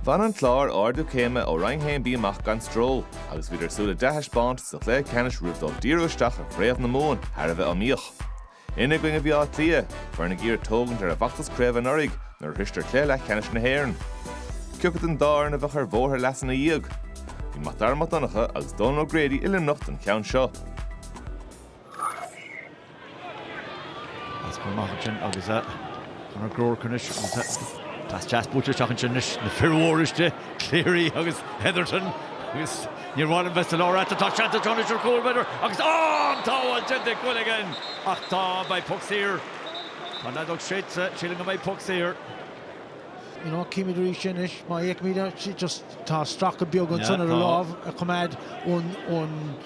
Bhain an Clár ardú céime ó Roinn 1B amach gan stró agus bhíodar ag súil le dea-thaispeántas sa chluiche ceannais roimh dul díreach isteach i gCraobh na Mumhan thar a bheith iomaíoch. Ina gcoinne a bhí Áth Cliath, foireann ag iarraidh tógaint ar a bhfeachtas craoibhe anuraidh nuair a shroiseadar cluiche leathcheannais na hÉireann. Ciocu den dá fhoireann a bheadh ar bhóthar a leasa ina dhiaidh. Bhí Mac Dara Mac Donncha agus Dónal O'Grady i Luimneach don cheann seo. As go maith ansin agus Conor Burke anois pas deas buaite isteach ansin anois na fir mhóra istigh, Cleary agus Hetherton agus níor mhaith liom bheith sa lár ach tá seans anseo anois ar chúl b'fhéidir agus á! An tsábháil déanta ag Quilligan ach tá beidh puc saor. Tá an fheadóg séidte, sílim go mbeidh puc saor. You know, címid arís anois, má fheicimid é just tá stracadh beag ansan ar a lámh a choimeád ón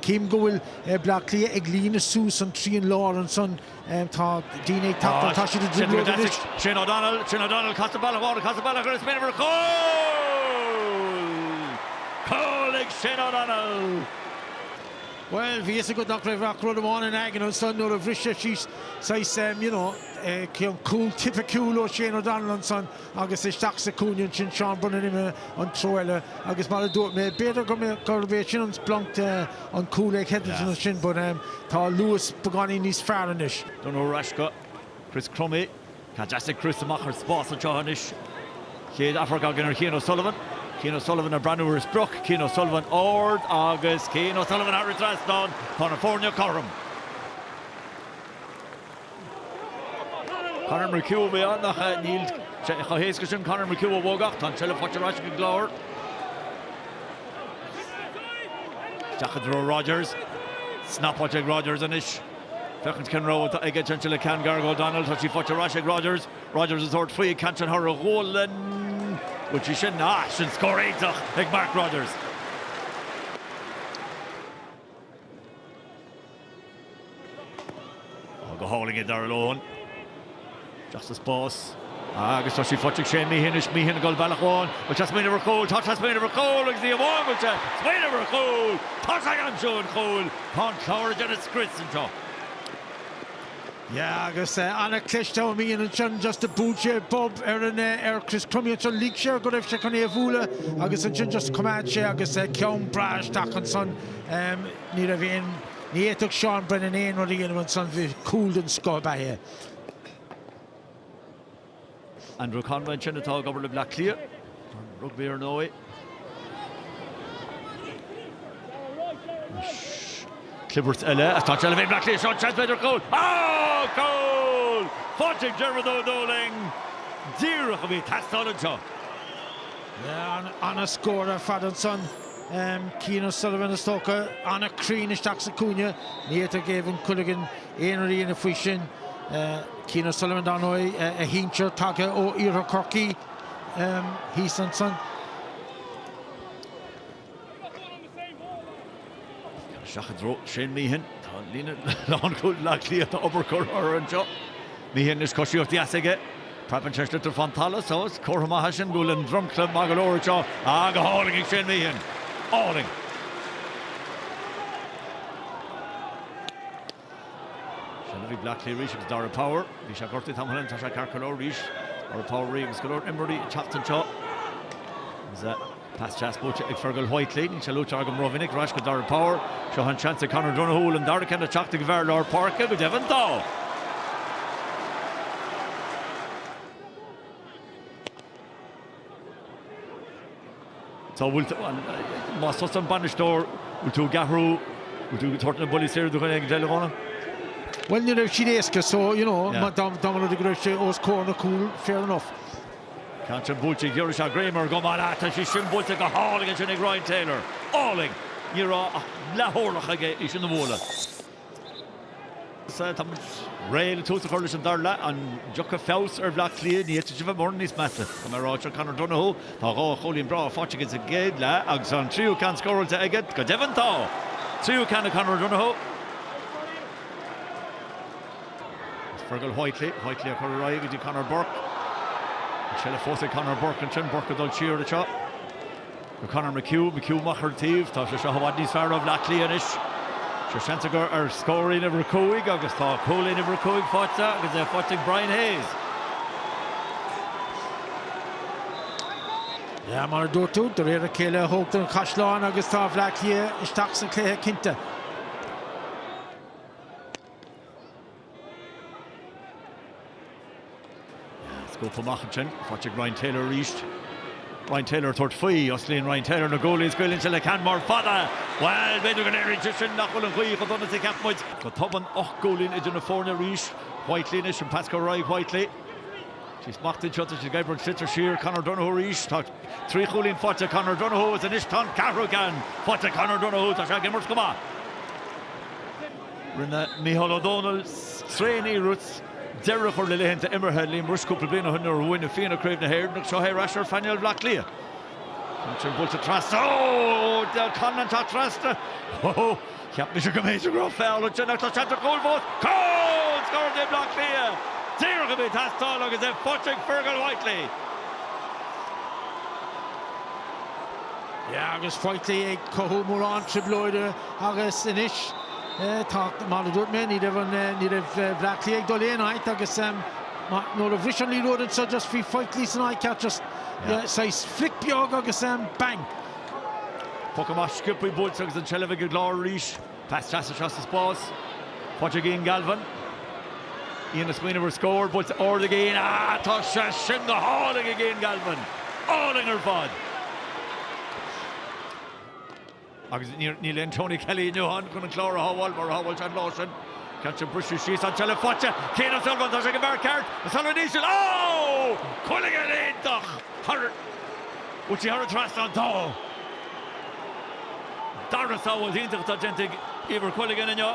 Cím go bhfuil Bleá Cliath ag líonadh suas an trian lár ansan tá daoine ag tachtadh tá siad i dtrioblóid anois. Shane O'Donnell, Shane O'Donnell casta bealach amháin casta bealach eile ag smaoineamh ar chúl! Cúl ag Shane O'Donnell! Well, bhí a fhios agat nach raibh ach rud amháin ina aigne ansan nuair a bhris sé síos saghas, you know, cúl tipiciúil ó Shane O'Donnell ansan. agus isteach sa gcúinne ansin Seán Brennan imithe an treo eile agus mar a dúirt mé b'fhéidir gur mé gurbh é sin an splanc de an cúl ag Hetherton ansin but um tá luas beagáinín níos fearr anois. Donohoe ar ais go Chris Crummey, pas deas ag Chris amach ar spás anseo anois. Chéad amharc againn ar Chian O'Sullivan. Cian O'Sullivan ag breathnú ar a sprioc, Cian O'Sullivan ard agus Cian O'Sullivan thar an trasnán, tá na foirne cothrom. Conor McHugh a bhí ann ach níl sé chomh héasca sin. Conor McHugh a bhogadh ach tá an tseilbh faighte ar ais ag an gClár. Isteach i dtreo Rodgers. Snap faighte ag Rodgers anois. Féachaint cén rogha atá aige ansin le ceann gearr go O'Donnell. Tá sí faighte ar ais ag Rodgers. Rodgers ag tabhairt faoin gceann sin thar a ghualainn. Bhuail sé í sin. Á, sin scór iontach ag Mark Rodgers. Ball go hálainn ag Darragh Lohan. Isteach sa spás agus tá sí faighte ag Shane Meehan anois. Meehan ag dul bealach amháin agus tá sé ag smaoineamh ar chúl. Tá sé ag smaoineamh ar chúl agus ní hamháin go bhfuil sé ag smaoineamh ar chúl, tá sé ag aimsiú an chúil. Tá an Clár ag déanamh scrios anseo. Yeah agus ana-chliste ó Meehan ansin just a bhuail sé bob ar an ar Chris Crummey ansin lig sé air go raibh sé chun é a bhualadh agus ansin just choimeád sé agus ceann breá isteach ansan. Ní raibh, ní fhéadfadh Seán Brennan aon rud a dhéanamh ansan, mar cúl den scoth ab ea é. Andrew Conway ansin atá ag obair le Bleá Cliath, an rugbaí ar ndóigh. Clibhirt eile atá ansin le bheith ag Bleá Cliath, seo an seans, b'fhéidir cúl, ááá! Cúl faighte ag Diarmuid Ó Dúlaing, díreach a bhí ag teastáil anseo. An-scór ar fad ansan. Cian O'Sullivan is dócha, an-chruinn isteach sa chúinne. Ní fhéadfadh Éibhear Quilligan aon rud a dhéanamh faoi sin. Cian O'Sullivan dar ndóigh, a shinsir tagtha ó Iarthar Chorcaí thíos ansan. Isteach i dtreo Shane Meehan. Tá an líne lánchúil Bleá Cliath, tá obair curtha orthu anseo. Meehan is coisíocht dheas aige. Preabann an sliotar ón talamh só. Is comhartha maith é sin go bhfuil an dromchla maith go leor anseo. Ah, go hálainn ag Shane Meehan. Álainn. Seilbh ag Bleá Cliath arís, Darragh Power. Bhí sé gortaithe tamall ann tá sé ceart go leor arís. Darragh Power arís agus go leor imreoirí ag teacht anseo. Is a Pas trasbhuailte ag Fergal Whiteley, níl sé luaite agam rómhinic, ar ais go Darragh Power, seo an seans ag Conor O'Donoghue an dara ceann a theacht ag fear lár páirce, go deimhin tá! Tá, bhuel, más tusa an bainisteoir, bhfuil tú ag athrú, bhfuil tú ag tabhairt na buillí saor do dhuine éigin eile, Dhónail? Bhuel, ní raibh siad éasca so, you know, dá mba rud é go raibh sé os comhair an chúil, fair enough. Cén chaoi buailte ag Aréis, ag ríméad go maith atá sé sin buailte go hálainn ansin ag Ryan Taylor. Álainn! Ní raibh ach leath orlach aige é sin a bhualadh. Sea, tá muid réidh le tús a chur leis an dara leath. An dtiocfaidh feabhas ar Bhleá Cliath? Ní fhéadfaidís a bheith mórán níos measa, tá mé a rá, seo Conor Donohue. Tá dhá chúilín breátha faighte aige sa gcéad leath agus an tríú ceann scóráilte aige. Go deimhin tá! Tríú ceann ag Conor Donohue. Agus Fergal Whitely, Whitely á chur ar aghaidh go dtí Conor Burke. An seilbh fós ag Conor Burke ansin, Burke ag dul siar anseo go Conor McHugh, McHugh amach ar an taobh, tá sé seo i bhfad níos fearr ó Bhaile Átha Cliath anois. Seans acu ar scór uimhir 5 agus tá cúilín uimhir 5 faighte agus é faighte ag Brian Hayes. Yeah mar a dúirt tú, de réir a chéile a tógtar an caisleán agus tá Baile Átha Cliath isteach sa chluiche cinnte. Scuabtha amach ansin, faighte ag Ryan Taylor arís. Ryan Taylor tabhairt faoi, osclaíonn Ryan Taylor na guaillí is gabháil ansin le ceann mór fada. Bhuel, b'fhéidir go léiríonn sé sin nach bhfuil an ghaoth chomh dona is a cheap muid. Go tobann, ocht gcúilín idir na foirne arís. Whiteley anois, an pas curtha roimh Whiteley. Faoi smacht anseo tar éis Gebhard sliotar siar, Conor Donohoe arís. Tá trí chúilín faighte ag Conor Donohoe is anois tá an ceathrú ceann faighte ag Conor Donohoe, tá sé ag imirt go maith. Rinne Micheál Ó Dónaill, tréaniarracht deireadh a chur le laethanta imeartha Liam Rushe cúpla bliain ó shin nuair a bhuaigh na Fianna Craobh na hÉireann tháinig sé ar ais ar phainéal Bhleá Cliath. Faighte ansin, buailte trasna. Ó! D'fheil Conlan ag teacht trasna. Ó! Cheap mise go mb'fhéidir go raibh feall ansin ach tá seans ar chúl fós. Cúl! Scór do Bhleá Cliath! Díreach a bhí ag teastáil agus é faighte ag Fergal Whiteley. Agus Whiteley ag cothú mórán trioblóide. Agus anois tá, mar a dúirt mé, ní raibh an, ní raibh Bleá Cliath ag dul aon áit agus mar, nuair a bhris an liathróid anseo just bhí Whiteley san áit cheart just saghas flick beag agus bang. Poc amach sciobtha buailte agus an tseilbh ag an gClár arís. Pas deas isteach sa spás. Faighte ag Ian Galvin. Ian ag smaoineamh ar scór, buailte ard ag Ian. Ah tá sé sin go hálainn ag Ian Galvin. Álainn ar fad. Agus níl aon Tony Kelly inniu ann chun an Clár a shábháil mar a shábháil sé an lá sin. Ceann san briseadh síos an tseilbh faighte. Cian O'Sullivan, tá sé ag an bhfear ceart, O'Sullivan íseal. Óóó! Quilligan! Iontach! Thar an. Bhfuil sí thar an trasnán? Tá. Dara sábháil iontach atá déanta ag Éibhear Quilligan inniu.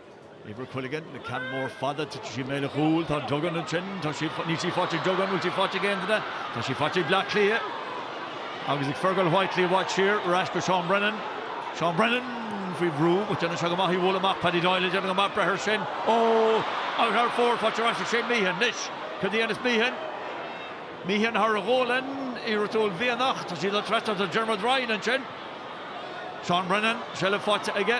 Éibhear Quilligan, an ceann mór fada, titfidh sí i mbéal an chúil, tá Duggan ansin, tá sí, níl sí faighte ag Duggan, bhfuil sí faighte ag aon duine? Tá sí faighte ag Bleá Cliath. Agus ag Fergal Whitely i bhfad siar, ar ais go Seán Brennan. Seán Brennan faoi bhrú, but déanann sé go maith, í a bhualadh amach Paddy Doyle, ag déanamh go maith, breith ar sin, oh, out hard forward, faighte ar ais ag Shane Meehan anois, cad a dhéanfas Meehan? Meehan thar ghualainn Uí Rútail-Bhearnach, tá sí ag dul trasna do Diarmuid Ryan ansin. Seán Brennan, seilbh faighte aige.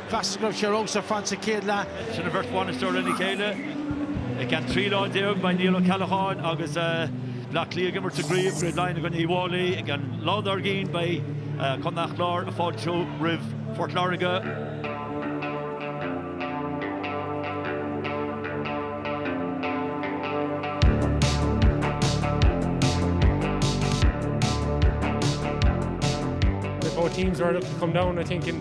Feachtas go raibh sé romham sa front sa chéad leath. Sin an bheirt bhainisteoir lena chéile i gceann 13 lá. Beidh Niall Ó Ceallacháin agus Bleá Cliath ag imirt i gCraobh Craobh Laighean i gcoinne Uí bhFáilí agus an lá dár gcionn beidh Contae an Chláir ag fáiltiú roimh Phort Láirge. Both teams are looking to come down, I think, in